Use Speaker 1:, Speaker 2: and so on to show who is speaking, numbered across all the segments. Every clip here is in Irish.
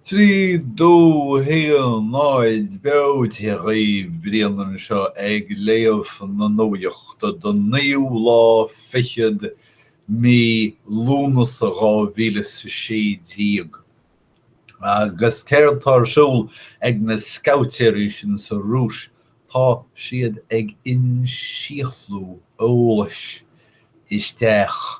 Speaker 1: Trí, dó, haon, aer. Beo. Dia dhaoibh. Brian anseo ag léamh na nuachta don naoú lá fichead mí Lúnasa dhá mhíle is a sé déag. Agus céard tá ar siúl ag na scabhaitéirí sin sa Rúis? Tá siad ag insíothlú eolais isteach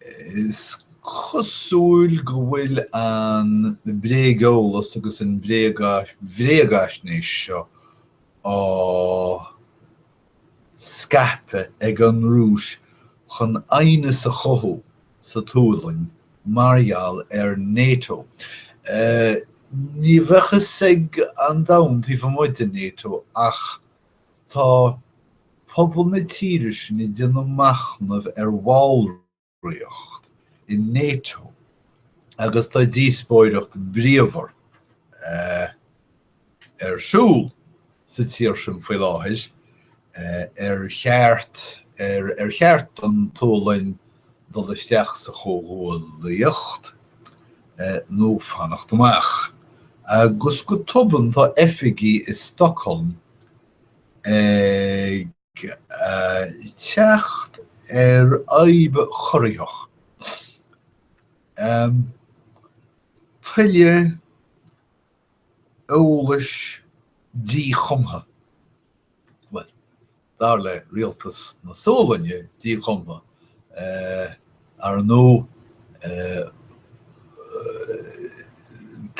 Speaker 1: Is cosúil go bhfuil an bréageolas agus an bhréagaisnéis seo á scaipeadh ag an Rúis chun aighneas a chothú sa tSualainn mar gheall ar nato. Ní bheadh fhios ag an domhan taobh amuigh de nato é ach Tá pobal na tíre sin ag déanamh machnaimh ar bhallraíocht i Nato agus tá díospóireacht bhríomhar ar siúl sa tír sin faoi láthair ar cheart ar cheart don tSualainn dul isteach sa chomhghuaillíocht nó fanacht amach, agus go tobann tá oifigigh i Stockholm ag teacht ar fhadhb chorraitheach. Tuile eolais díchumtha Bhuel, dar le Rialtas na Sualainne, díchumtha, ar ndóigh,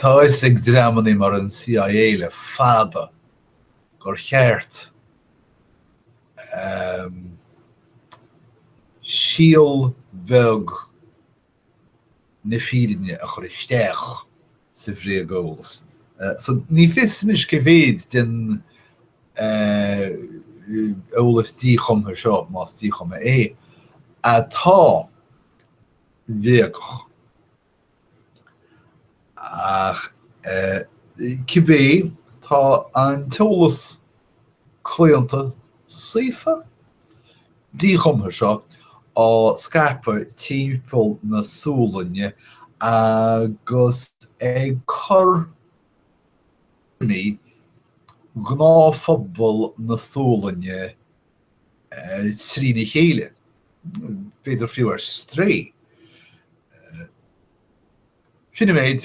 Speaker 1: tá fhios ag dreamannaí mar an CIA le fada gur cheart síol bheag, na fírinne a chur isteach sa bhréageolas so ní fios anois cé mhéid den eolas díchumtha seo, más díchumtha é, atá bréagach. Ach cibé, tá an t-eolas claonta saofa, díchumtha seo á scaipeadh timpeall na Sualainne agus ag cur tuairimí ghnáthphobal na Sualainne trína chéile, b'fhéidir fiú ar strae. Sin an méid.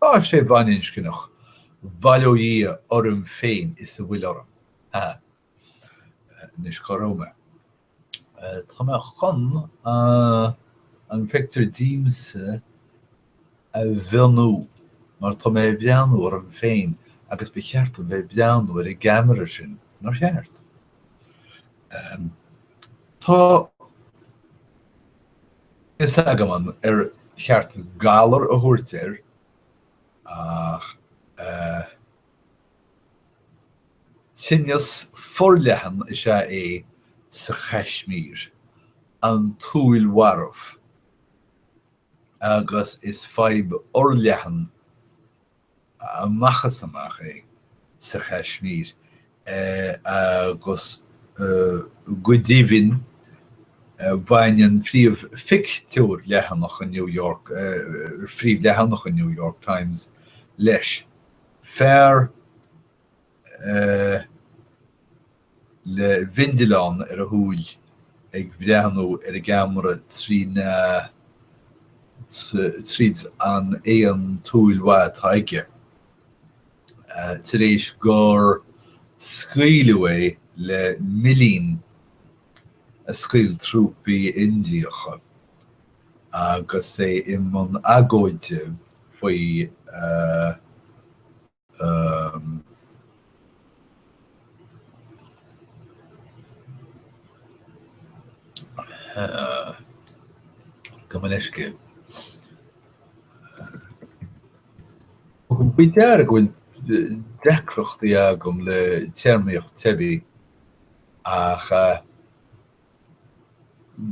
Speaker 1: Ba sé baininscneach, Bhail ó Dhia orm féin is a bhfuil orm. Há. Anois cá raibh mé? Tá mé chun an phictiúr díomsa a mhíniú mar tá mé ag breathnú orm féin agus ba cheart dom bheith ag breathnú ar an gceamara sin, nár cheart? Tá. a fhios agam an ar cheart 'galar' a thabhairt air ach tinneas forleathan is ea é sa Chaismír, an tsúil mharbh, agus is fadhb fhorleathan amach is amach é sa Chaismír agus go deimhin baineann príomhphictiúr leathanach an New York príomhleathanach an New York Times leis, fear a. le bindealán ar a shúil ag breathnú ar an gceamara trí na tríd an aon tsúil mhaith atá aige tar éis gur scaoileadh é le millín a scaoil trúpaí Indiacha agus é i mbun agóide faoi Gabh mo leithscéal. Tharla go bhfuil deacrachtaí agam le téarmaíocht teibí ach.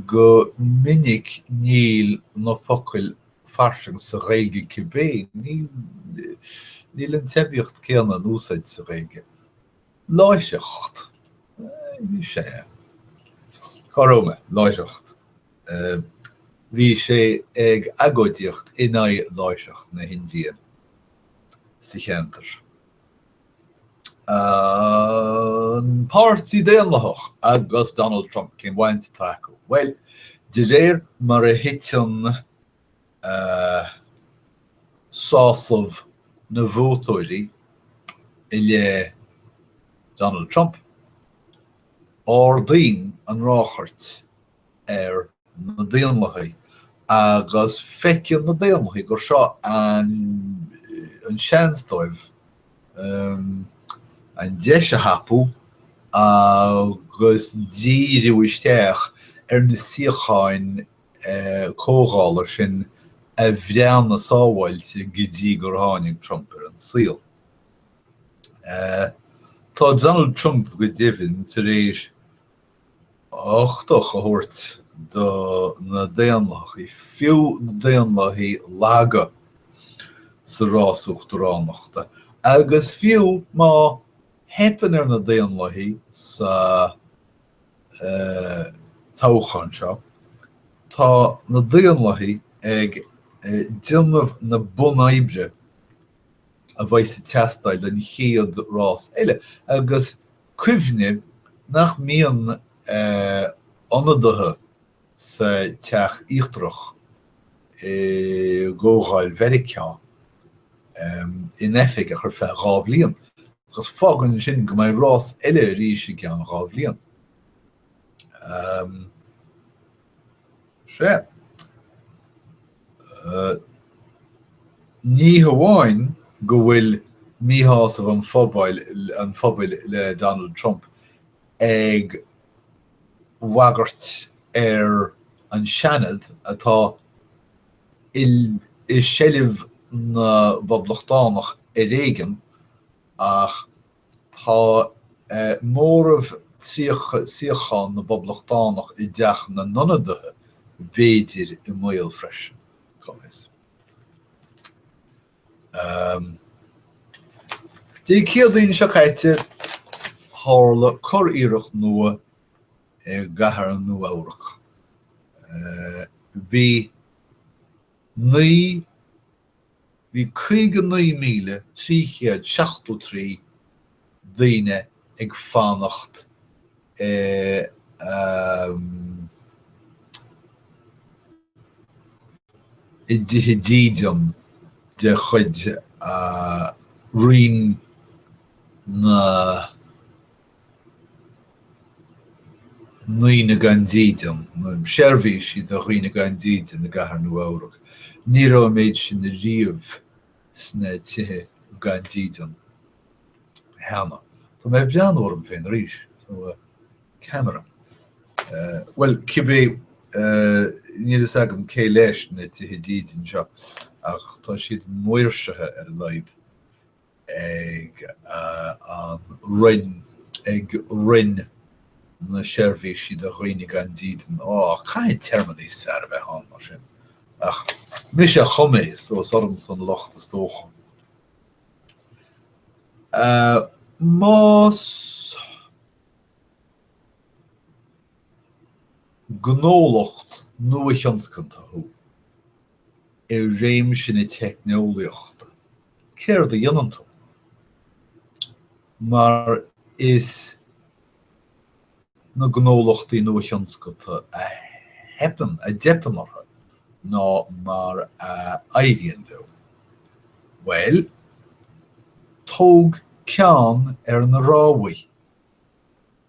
Speaker 1: Go minic níl na focail fairsing sa Ghaeilge cibé, níl an teibíocht céanna in úsáid sa Ghaeilge. Láithreacht. Bhí sé. Cá raibh mé? Láithreacht. Bhí sé ag agóidíocht in aghaidh láithreacht na hIndia sa cheantar. An Páirtí Daonlathach agus Donald Trump, cén bhaint atá acu? Bhuel, de réir mar a thiteann sásamh na vótóirí i leith Donald Trump, ardaíonn an ráchairt ar na Daonlathaigh agus feiceann na Daonlathaigh gur seo an seans dóibh an deis a thapú agus díriú isteach ar na suíocháin Comhdhála sin a bhíonn sábháilte go dtí gur tháinig Trump ar an saol. Tá Donald Trump go deimhin tar éis uchtach a thabhairt do na Daonlathaigh, fiú na Daonlathaigh laga, sa rás uachtaránachta. Agus fiú má theipeann ar na Daonlathaigh sa toghchán seo, tá na Daonlathaigh ag déanamh na bunoibre a bheas ag teastáil don chéad rás eile agus cuimhnigh nach mbíonn ionadaithe sa teach íochtarach i gComhdháil Mheiriceá in oifig ach ar feadh dhá bhliain, agus fágann sin go mbeidh rás eile arís i gceann dhá bhliain. 6. Ní hamháin go bhfuil míshásamh an phobail le Donald Trump ag bagairt ar an Seanad atá i seilbh na bPoblachtánach ar éigin ach Tá móramh suíochán na bPoblachtánach i dTeach na nIonadaithe b'fhéidir i mbaol freisin. Dé Céadaoin seo caite, tharla curiarracht nua i gcathair Nua-Eabhrac. Bhí naoi Bhí 59,373 daoine ag fanacht i dtithe dídean de chuid Roinn na. ndaoine gan dídean, seirbhísí do dhaoine gan dídean de Chathair Nua-Eabhrac. Ní raibh an méid sin riamh sna tithe gan dídean cheana. Tá mé ag breathnú orm féin arís. Camera. Bhuel, cibé, níl a fhios agam cé leis na tithe dídean seo ach tá siad maoirsithe ar a laghad. ag an Roinn, ag Roinn na Seirbhísí do Dhaoine gan Dídean, oh, caithfidh téarma níos fearr a bheith ann, mar sin, ach mise a chum é, so is ormsa an locht, is dócha. Más gnólacht nua-thionscanta thú, i réimse na teicneolaíochta. Céard a dhéanann tú mar is na gnólachtaí nuathionscanta a theipeann, a dteipeann orthu ná mar a éiríonn leo? Bhuel, tóg ceann ar na ráthaí.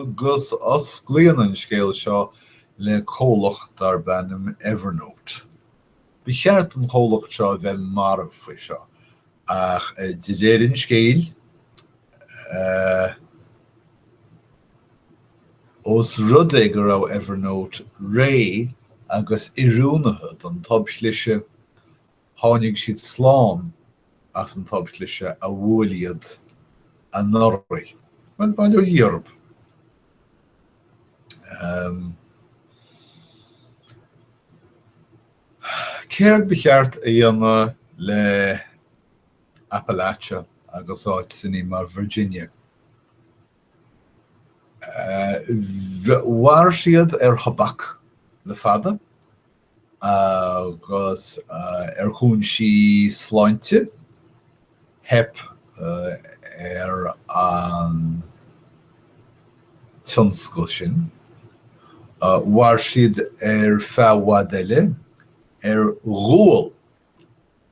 Speaker 1: Agus osclaíonn an scéal seo le comhlacht darb ainm Evernote. Ba cheart don chomhlacht seo a bheith marbh faoi seo ach de réir an scéil, ós rud é go raibh Evernote réidh agus oiriúnaithe don tobchliseadh, Tháinig siad slán as an tobchliseadh a bhuail iad anuraidh. Bhuel, bail ó Dhia orthu. Céard ba cheart a dhéanamh le Appalachia agus áiteanna mar Virginia? Mhair siad ar thobac le fada. agus ar chúinsí sláinte. Theip ar an tionscal sin. Mhair siad ar feadh i bhfad eile ar ghual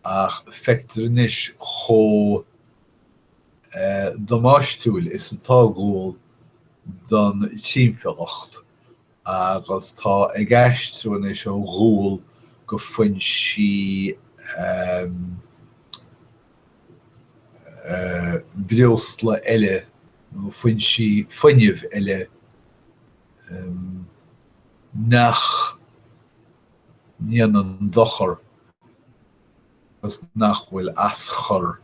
Speaker 1: ach feictear anois chomh damáistiúil is atá gual don timpeallacht agus tá ag aistriú anois ó ghual go foinsí breosla eile go foinsí fuinnimh eile nach ndéanann dochar. agus nach bhfuil aschur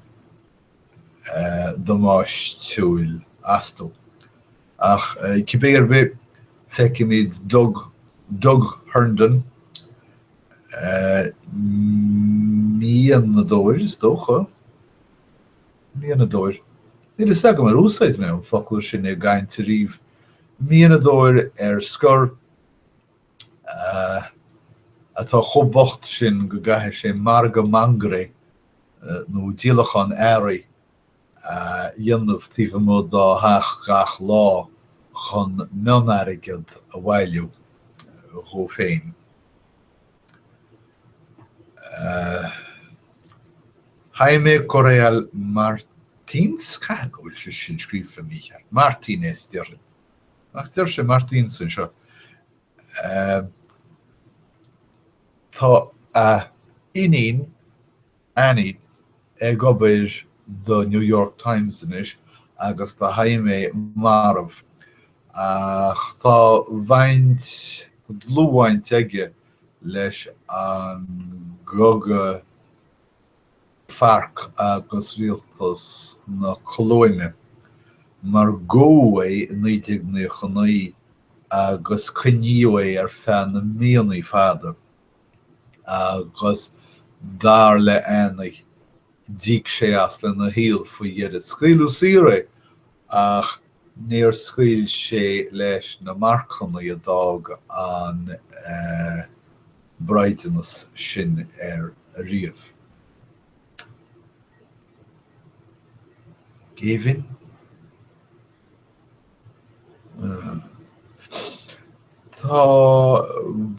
Speaker 1: damáistúil astu. Ach cibé ar bith, feicimid Doug Doug Herndon, mianadóir is dócha? mianadóir, níl fhios agam ar úsáid mé an focal sin i gcaint ariamh, mianadóir ar scor atá chomh bocht sin go gcaithfidh sé margadh mangarae nó díolachán earraí a dhéanamh taobh amuigh dá theach gach lá chun mion-airgead a bhailiú dhó féin. Jaime Correal Martins, caithfidh go bhfuil sé sin scríofa mícheart, Martínez déarfainn. Ach deir sé Martins anseo, Tá a iníon Annie ag obair do New York Times anois agus tá Jaime marbh, ach tá baint, dlúthbhaint aige leis an gcogadh. Farc agus Rialtas na Colóime mar gabhadh é i 1999 agus coinníodh é ar feadh na míonnaí fada agus dar le Annie d'íoc sé as lena shaol faoi dheireadh. Scaoileadh saor é ach níor scaoil sé leis na marcannaí a d'fhág an braighdeanas sin air ariamh. Géibheann? Tá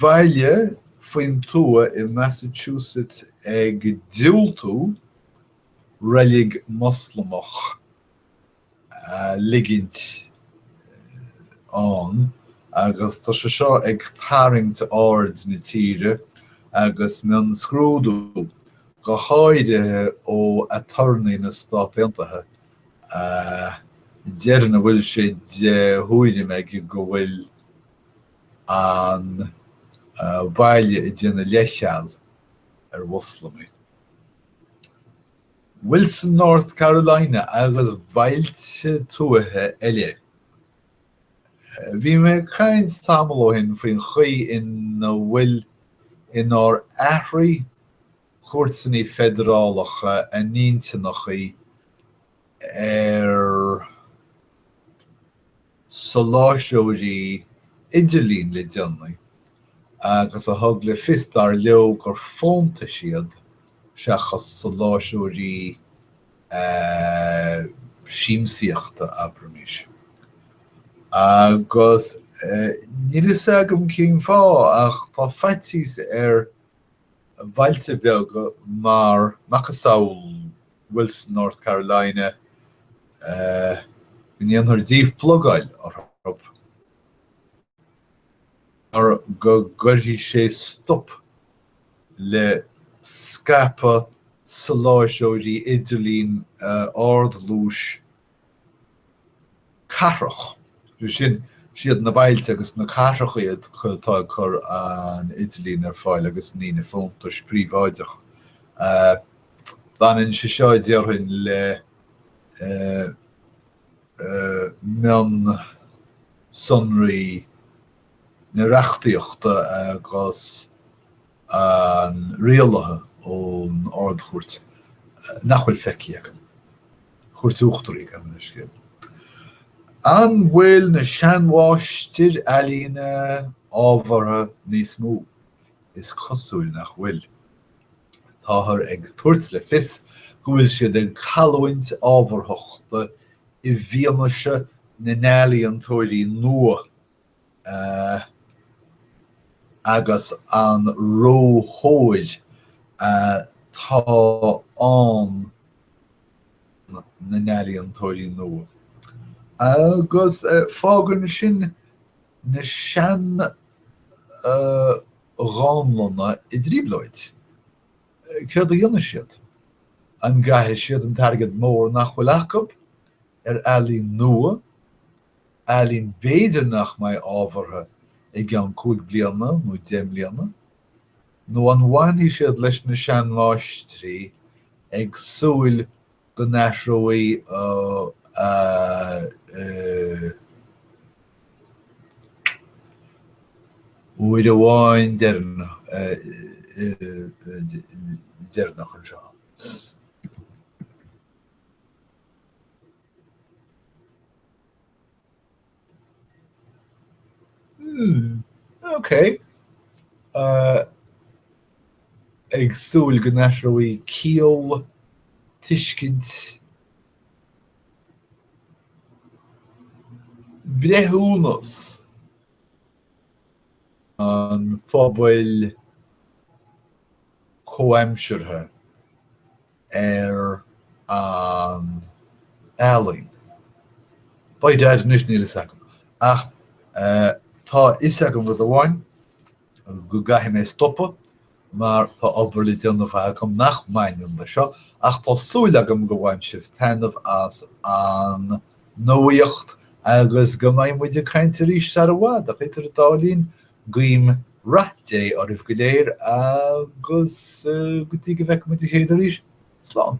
Speaker 1: baile faoin tuath i Massachusetts ag diúltú reilig Moslamach ligint ann agus tá sé seo ag tarraingt aird na tíre agus mionscrúdú, go háirithe ó aturnae na Stát Aontaithe, a deireann a bhfuil sé de thuairim aige go bhfuil an baile ag déanamh leithcheal ar Mhoslamaigh. Wilson, North Carolina agus bailte tuaithe eile. Bhí mé ag caint tamall ó shin faoin chaoi ina bhfuil inar athraigh cúirteannaí feidearálacha a n-intinneachaí ar. soláthróirí idirlín le déanaí agus a thug le fios dar leo gur fóntais iad seachas soláthróirí siamsaíochta, abraimis. Agus níl a fhios agam cén fáth ach tá faitíos ar bhailte beaga mar macasamhail Wilson, North Carolina, go ndéanfar díphlugáil orthu mar go gcuirfidh sé stop le scaipeadh soláthróirí idirlín ardluais cathrach. Sin siad na bailte agus na cathracha atá ag cur an idirlín ar fáil agus ní na fóntais príobháideacha. Baineann sé seo, déarfainn, le mionsonraí na reachtaíochta agus. an rialaithe ón Ard-Chúirt nach bhfuil feicthe agam, Cúirt Uachtarach, gabh mo leithscéal. An bhfuil na seanmháistir ealaíne ábhartha níos mó? Is cosúil nach bhfuil. Táthar ag tabhairt le fios go bhfuil siad ag cailliúint ábharthachta i bhfianaise na n-ealaíontóirí nua. agus an róthóir atá ar na n-ealaíontóirí nua agus fágann sin na sean-dhánlanna i dtrioblóid. Céard a dhéanfaidh siad? An gcaithfidh siad an t-airgead mór nach bhfuil acub ar ealaín nua ealaín b'fhéidir nach mbeidh ábhartha i gceann cúig bliana nó deich mbliana, nó an bhfanfaidh siad leis na seanmháistrí ag súil go n-athróidh uair amháin deireanach anseo. Hmm, ok. Ag súil go n-athróidh ciall, tuiscint, breithiúnas an phobail chomhaimseartha ar an ealaín. By Dad anois níl fhios agam ach tá fhios agam rud amháin go gcaithfidh mé stopadh mar tá obair le déanamh fós agam nach mbaineann le seo ach tá súil agam go bhain sibh taitneamh as an nuaíocht agus go mbeidh muid ag caint arís sar i bhfad ach idir an dá linn Guím rath Dé oraibh go léir agus go dtí go bhfeicfimid a chéile arís, slán.